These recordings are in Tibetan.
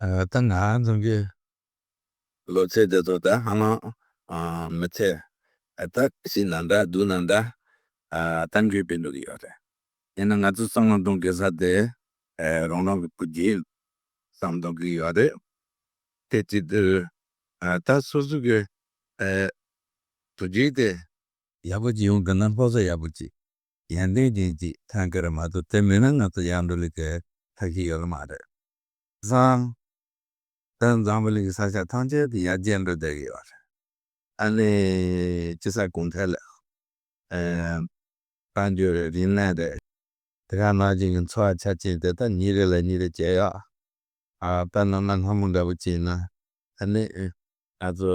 ད་ང་རང་གི་ལོ་ཚད་དེ་ཚོ་ད་ཧ་ལམ་མི་ཚད་ད་ཤི་ན་འདྲ་སྡུག་ན་འདྲ་ད་འགྱོད་པའི་ལུགས་ཡོད་རེད། ཡིན་ན་ང་ཚོ་བསམ་བློ་གཏོང་དགོས་ས་དེ་རང་རང་གི་བུ་རྒྱུད་བསམ་གཏོང་གི་ཡོད་རེད། དེ་གཅིག་དུས་ད་སོ་སོ་གི་བུ་རྒྱུད་དེ། ཡག་པོ་ཅིག་ཡོང་དགོས་ན་སློབ་གསོ་ཡག་པོ་ཅིག་ཡན་ཏན་ཅན་ཅིག་ཐོན་དགོས་རེད་མ་གཏོགས་དེ་མེད་ན་ང་ཚོ་ཡར་འགྲོ་ལུགས་ཐབས་ཤེས་ཡོད་ལ་མ་རེད། བཟང། དོན་བཟང་པོ་ལེགས་ཀྱི་ས་ཆ་ཐམས་ཅད་དུ་ཡར་རྒྱས་འགྲོ་བསྡད་ཡོད་རེད། ཨ་ནི་སྤྱི་བསར་གུང་ཐལ་ལས་ཨེ། བཀའ་འགྱུར་རེད་རིན་ལན་རེད། དེ་ག་ནང་བཞིན་གྱི་འཚོ་བ་ཆ་རྐྱེན་དེ་དག་ཉིན་རེ་ལ་ཉིན་རེ་ཇེ་ཡག། དཔེར་ན་གནའ་སྔ་མོ་འདྲ་པོ་བྱས་ན་ཨ་ནི། ང་ཚོ།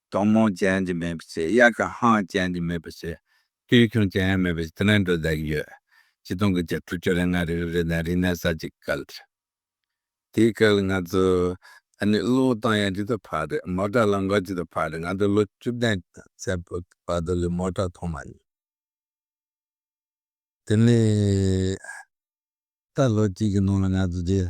གཏོང་མང་ཅན་གྱི་མེད་པའི་ཚེ་དབྱར་ཁ་ཧང་ཅན་གྱི་མེད་པའི་ཚེ་དུས་ཁྱུང་ཅན་ཡང་མེད་པའི་ཚེ་དེ་ནས་འགྲོ་བསྡད་ཀྱི་ཡོད། སྤྱི་སྟོང་གི་བརྒྱད་ཁྲུ་བཅུ་རེ་ལྔ་རེའི་རི་དང་རི་སྣེ་ས་གཅིག་གི་སྐལ་རེད། དེའི་སྐལ་ང་ཚོ་ད་ནི་གློག་བཏང་ཡང་ཇི་ལྟར་ཕར་རེད་མོ་ཏྲ་ལ་འགོག་ཇི་ལྟར་ཕར་རེད་ང་ཚོ་ལོ་བཅུ་བདུན་ཚེ་བར་དུ་ལས་མོ་ཏྲ་མཐོང་མ་མྱོང། དེ་ནས་ད་ལོ་གཅིག་གི་ནང་ལ་ང་ཚོ་རྗེས་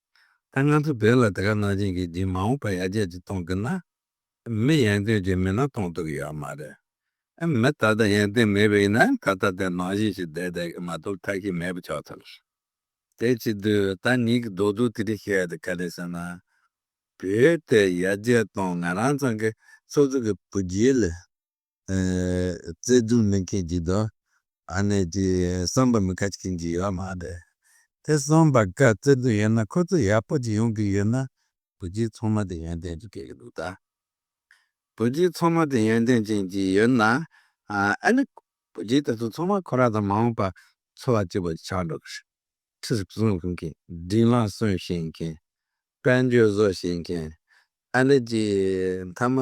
ད་ང་ཚོ་བོད་ལ་དེ་ག་གནང་བྱིན་གྱིས་འདིའི་མ་འོངས་པ་ཡར་རྒྱས་ཀྱི་གཏོང་གི་ན། མི་ཡན་ཏན་གྱི་མི་ན་གཏོང་ཐུབ་ཀྱི་ཡོད་མ་རེད། མི་ད་ལྟ་ཡན་ཏན་མེད་པའི་ཡིན་ན་ད་ལྟ་དེ་ནང་བཞིན་ཞིག་བསྡད་བསྡད་ཀྱི་མ་གཏོགས་ཐ་གི་མེད་པ་ཆགས་ཚར། དེ་ཅི་དུས་ད་ནིང་གི་རྡོག་རྡོག་དེ་རིགས་བཤད་དེ་ག་རེད་ཟེར་ན། བོད་དེ་ཡར་རྒྱས་གཏོང་ང་རང་ཚང་གི་སོ་སོ་གི་བུ་རྒྱལ་ལ། བརྩེ་དུང་མེད་མཁན་གྱི་དོ་ནས་ཀྱི་བསམ་པ་མི་དགའ་མཁན་གྱི་ཡོད་མ་རེད་དེ་བསམ་པ་དགའ་བརྩེ་དུང་ཡོད་ན་ཁོ་ཚོ་ཡག་པོ་གཅིག་ཡོང་གི་ཡོད་ན་བོད་སྤྱི་ཚོང་མ་དེ་ཡོན་ཏན་གྱི་སྐད་གི་འདུག་ད་བོད་སྤྱི་ཚོང་མ་དེ་ཡོན་ཏན་ཅན་གྱི་ཡོད་ན་ཨ་ནི་བོད་སྤྱི་དེ་ཚོ་ཚོང་མ་ཁོ་ར་དང་མ་འོངས་པ་འཚོ་བ་སྐྱིད་པོ་ཆགས་འགྲོ་གི་རེད་ཁྲི་བཟུང་བཞིན་མཁན། འབྲིང་ལ་སོན་བཞིན་མཁན། དཔལ་འབྱོར་བཟོ་བཞིན་མཁན། ཨ་རི་གྱི་མཐའ་མ་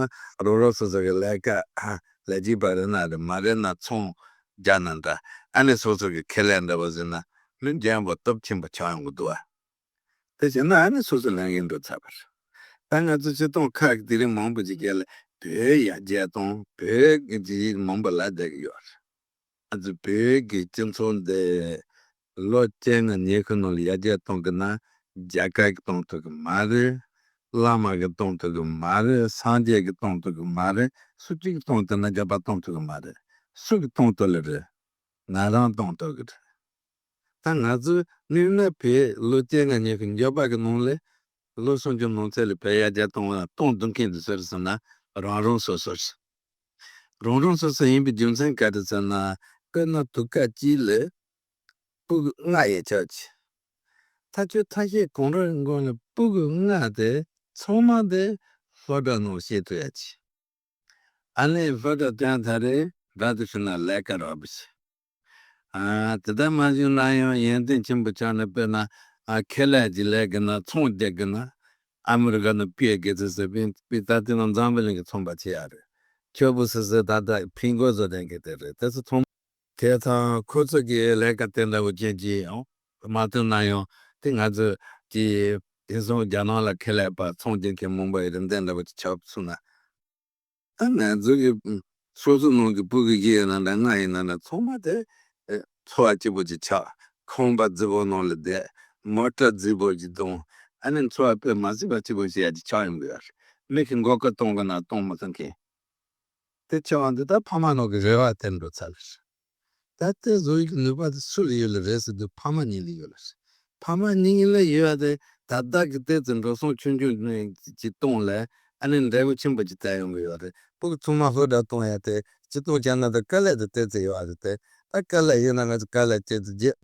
རོགས་རོགས་སོ་སོ་གི་ལས་ཀ་ལས་གཅིག་པ་རེད་ན་རེད་མ་རེད་ན་ཚོང་རྒྱག་ན་འདྲ་ཨ་ནི་སོ་སོ་གི་ཁེ་ལས་འདྲ་བ་ཟིན་ན་མི་འགྲན་བ་སྟོབས་ཆེན་པོ་ཆགས་ཡོང་གི་འདུག་ཨ་དེ་བྱས་ན་ཨ་ནི་སོ་སོ་ལས་འགན་སྒྲུབ་ཚར་བ་རེད་ད་ང་ཚོ་ཆེ་མཐོང་ཁག་གི་དེ་རིང་མང་པོ་ཅིག་རྒྱལ་བོད་ཡ་རྒྱལ་སྟོང་བོད་ཀྱི་མང་པོ་ལ་བསྡད་ཀྱི་ཡོད་རེད། ང་ཚོ་བོད་ཀྱི་སྤྱི་ཚོགས་འདི་ལོ་བཅོ་ལྔ་ཉེ་གི་ནང་ཡར་རྒྱས་གཏོང་གི་ན་རྒྱ་སྐད་ཀྱི་གཏོང་ཐུབ་ཀྱི་མ་རེད། བླ་མ་ཀྱི་གཏོང་ཐུབ་ཀྱི་མ་རེད་སངས་རྒྱས་ཀྱི་གཏོང་ཐུབ་ཀྱི་མ་རེད་སུ་གཅིག་གཏོང་ཐུབ་ན་རྒྱ་བལ་གཏོང་ཐུབ་ཀྱི་མ་རེད་སུ་གི་གཏོང་ཐུབ་ལེ་རེད་ང་རང་གཏོང་ཐུབ་ཀྱི་རེད་ད་ང་ཚོ་དམིགས་ན་བོད་ལོ་བཅོ་ལྔ་ཉེ་གི་འགྱོད་པ་ཀྱི་ནང་ལས་ལོ་སུམ་ཅུ་ནང་ཚད་ལས་བོད་ཡར་རྒྱས་གཏོང་བ་གཏོང་ཐུབ་མཁན་དེ་སུ་རེད་ཟེར་ན་རང་རང་སོ་སོ་རེད། རང་རང་སོ་སོ་ཡིན་པའི་རྒྱུ་མཚན་ག་རེ་ཟེར་ན། དཔེར་ན་དུག་ཁ་སྐྱིད་ལ་སྤུག་ལྔ་ཡོད་ཆོག་ཅིག། ཐ་ཆུ་ཐ་ཤལ་གང་རེ་མགོ་ལ་སྤུག་ལྔ་དེ་ཚང་མ་དེ་ལྷོ་བྲག་ནང་བཤད་ཐུབ་ཡ་ཅིག། ཨ་ནེ་ལྷོ་བྲག་བསྟན་ད་རེས་བྲག་དེ་ཕྱི་ན་ལས་ཀ་རག་པ་ཞིག། དེ་ལྟར་མ་བྱུང་ན་ཡང་ཡོན་ཏན་ཆེན་པོ་ཆགས་ནས་དཔེར་ན་ཁེ་ལས་ཀྱི་ལས་ཀྱི་ནང་ཚོང་རྒྱག་གི་ན་ཨ་མི་རི་ཀ་ནང་སྤུས་དགེ་ཚོས་ཟེར་བས་སྤུས་དག་དེ་རྣམས་འཛམ་བུ་གླིང་གི་ཚོང་པ་བྱེད་ཡག་རེད། ཁྱོད་བུ་ཟེར་ཟེར་ད་ལྟ་ཕིང་གོས་བཟོ་ལེན་མཁན་དེ་རེད་དེ་ཚོ་ཚོང། དེ་ཚང་ཁོ་ཚོ་གི་ལས་ཀ་དེ་འདྲ་བོ་ཅན་གྱི་མ་བཏོན་ན་ཡང་དེ་ང་ཚོ་གྱི་དེང་སང་རྒྱ་ནང་ལ་ཁེ་ལས་པ་ཚོང་རྒྱག་མཁན་མང་པོ་ཡོད་རེད་འདི་འདྲ་བོ་ཅིག་ཆགས་སོང་ན། ད་ནས་འཛུགས་ཀྱི་སོ་སོའི་ནང་གི་སྤུ་གི་རྒྱུ་ཡིན་ན་འདྲ་ལྔ་ཡིན་ན་འདྲ་ཚོགས་མ་དེ་ཚོ་བ་སྐྱིད་པོ་ཅིག་ཆགས་ཁང་པ་རྫི་བོ་ནང་ལ་བསྡད་མོ་སྐྲ་རྫི་བོ་ཅིག་བརྡུང་ཨ་ནི་འཚོ་བ་པད་མ་སྲིད་པ་སྐྱིད་པོ་ཞིག་ཡ་ཅིག་ཆགས་ཡོང་གི་ཡོད་མིག་གི་མགོ་སྐོར་གཏོང་གི་ན་གཏོང་མི་ཐུབ་མཁན་དེ་ཆེ་བ་འདི་ད་ཕ་མ་ནང་གི་རེ་བ་དེར་འགྲོ་ཚར། ད་ལྟའི་བཟོ་བྱེད་ཀྱི་ནུས་པ་དེ་སུ་ལ་ཡོད་ལ་རེད་ཟེར་དུས་ཕ་མ་གཉིས་ལ་ཡོད་ལ་རེད། ཕ་མ་གཉིས་ལ་ཡོད་དེ་ད་བདག་གི་ལྟས་དེ་འགྲོ་སོང་ཆུང་ཆུང་གཅིག་བཏུང་ལ་ཨ་ནེ་འབྲས་བུ་ཆེན་པོ་གཅིག་བསྟན་ཡོང་གི་ཡོད་རེད་པུ་གུ་ཚུགས་མ་ལྷོད་དྲག་བཏུང་ཡ་དེ་གཅིག་བཏུང་བྱས་ན་ད་དཀའ་ལས་དེ་སྟེར་ཚེ་ཡོད་རེད་དེ་ད་དཀའ་ལས་ཡོད་ན་ང་ཚོས་དཀའ་ལས་སྤྱད་དུ་རྗེས་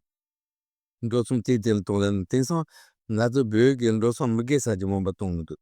འགྲོ་སོང་གཅིག་དེ་ལ་བཏུང་ལ་དེང་སང་ང་ཚོ་བོད་ཀྱི་འགྲོ་སོང་མི་དགེ་ས་ཆེན་མོ་འབའ་བཏུང་མི་འདུག།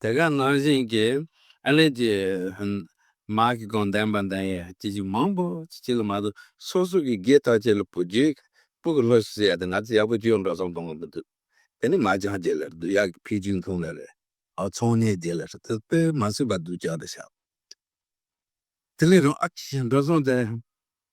དེ་ག་ནང་བཞིན་གྱི་ཨ་ལེ་ཀྱི་མ་གི་དགོན་བསྟན་པ་འདི་ཡི་ཅི་ཅིག་མང་པོ་ཅིག་ཅིག་ལ་མ་གཏོགས་སོ་སོ་གི་དགེ་རྟགས་ཅི་ལ་བུ་རྒྱུད་སྤུ་གི་ལྷོ་སུ་ཡ་དེ་ང་ཚོ་ཡག་པོ་ཅུང་འགྲོ་སོང་གཏོང་གི་མི་འདུག་དེ་ནི་མ་ཅང་རྒྱལ་ལ་རེད་འདུག་ཡག་གི་ཕིག་ཅུན་ཐུང་ལ་རེད་འོ་ཚོང་གཉེར་རྒྱལ་ལ་རེད་འདུག་དཔེ་མ་སུས་པ་འདུག་ཅང་དེ་ཤག་དེ་ལས་རང་ཨ་ཅེ་ཞིག་འགྲོ་སོང་དེ་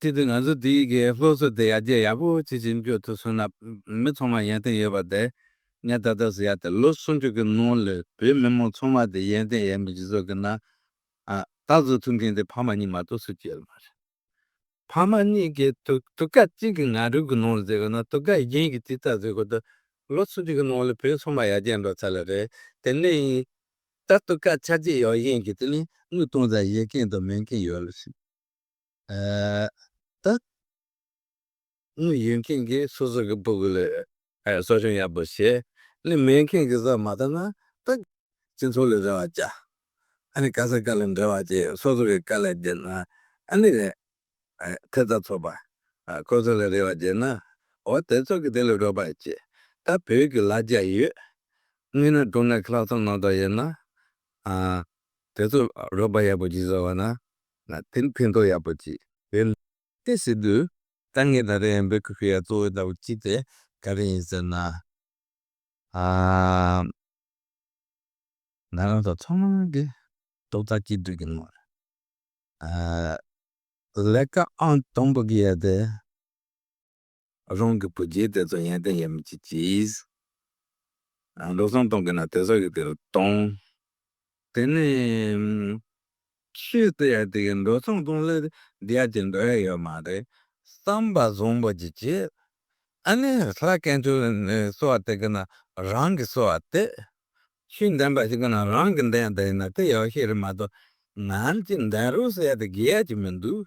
གཅིག་ཏུ་ང་ཚོ་དེ་གའི་སློབ་གསོ་དེ་ཡར་རྒྱས་ཡག་པོ་བྱེད་ཅིང་བསྐྱོད་ཐུབ་སོང་ན་མི་ཚང་མ་ཡན་ཏན་ཡོད་པ་དེ་ངས་ད་ལྟ་ཟེར་ཡག་སྟེ་ལོ་སུམ་ཅུ་གི་ནང་ལས་བོད་མི་མང་ཚང་མ་དེ་ཡན་ཏན་ཡག་མི་སྤྱི་ཚོགས་ཀྱི་ནང་ལྟ་ཟུར་ཐུབ་མཁན་དེ་ཕ་མ་གཉིས་མ་གཏོགས་སུ་གཅིག་ཡོད་མ་རེད། ཕ་མ་གཉིས་ཀྱི་དུ་ཀ་གཅིག་གི་ང་རོས་ཀྱི་ནང་ལས་བཟོས་དགོས་ན་དུ་ཀ་གཞན་གྱིས་ཅི་ལྟར་བཟོས་དགོས་ད་ལོ་སུམ་ཅུ་གི་ནང་ལས་བོད་ཚང་མ་ཡར་རྒྱས་འགྲོ་ཚར་ལ་རེད་དེ་ནས་ཡིན་ད་དུ་ཀ་ཆ་གཅིག་ཡོད་གཞན་གྱིས་དེ་ལས་དངུལ་གཏོང་ཚར་ཡོད་མཁན་དང་མེད་མཁན་ཡོད་ལ་སྲིད། ད་ནི་ཡུལ་མཁན་གྱིས་སོ་སོ་གི་སྤུ་གུ་ལས་གསོ་སྦྱོང་ཡག་པོ་བྱས་ལས་མེས་མཁན་གྱི་བཟའ་མ་ད་ན་ད། སྤྱི་ཚོགས་ལས་རེ་བ་བྱ་ཨ་ནི་དཀའ་སའི་དཀའ་ལས་འབྲེལ་བ་བྱས་སོ་སོ་གི་དཀའ་ལས་བརྗེད་ན་ཨ་ནི་རེད། ཐེ་བརྩ་ཚོགས་པ་ཁོ་ཚོ་ལས་རེ་བ་བརྗེད་ན་འོ་དེ་ཚོ་གི་དེ་ལས་རོགས་པ་བྱེད་ད་བོད་ཀྱི་ལ་རྒྱ་ཡོད་ངེས་ན་འགྲོ་ན་ཁ་ལག་ཚོམ་ནང་དུ་ཡོད་ན་ཨ་དེ་ཚོ་རོགས་པ་ཡག་པོ་བྱེད་ས་བ་ན་ན་དེར་ཕན་ཐོགས་ཡག་པོ་ཅིག་ཡོད། དེ་སྲིད་དུ། ད་ངས་ད་རེས་འབོད་སྐུལ་ཞུ་ཡག་གཙོ་བོའི་ཟླ་བ་གཅིག་དེ་ག་རེ་ཡིན་ཟེར་ན། ཨ། ན་རང་ཚོ་ཚང་མ་གི་སྟོབས་ད་གཅིག་སྡུད་ཀྱི་མ་རེད། ཨ། ལས་ཀ་ཨང་དང་པོ་གི་ཡ་དེ། རང་གི་བུ་རྒྱལ་དེ་ཚོ་ཡན་ཏན་ཡོད་མི་བྱེད་ཀྱིས། འགྲོ་སོང་གཏོང་དགོས་ན་དེ་ཚོ་གིས་དེ་ལ་གཏོང། དེ་ནས། ཁྱོད་ཚོ་ཡང་དེ་གིས་འགྲོ་སོང་གཏོང་སླད་འདི་ཡར་གྱིས་འགྲོ་ཡ་ཡོད་མ་རེད་བསམ་པ་བཟུང་བ་ཅིག་བྱས། ཨ་ནི་ལྷ་སྐལ་མཆོག་ནི་གསོལ་བ་དེ་གིས་ན་རང་གིས་གསོལ་བ་དེ། ཤིང་འདན་པ་ཞིག་གིས་ན་རང་གིས་འདན་ཡ་དེ་ཡིན་ན་དེ་ཡག་ཤོས་རེད་མ་གཏོགས་ང་ཅིག་འདན་རོགས་ཟེར་ཡ་དེ་དགེ་ཡ་ཅིག་མི་འདུག།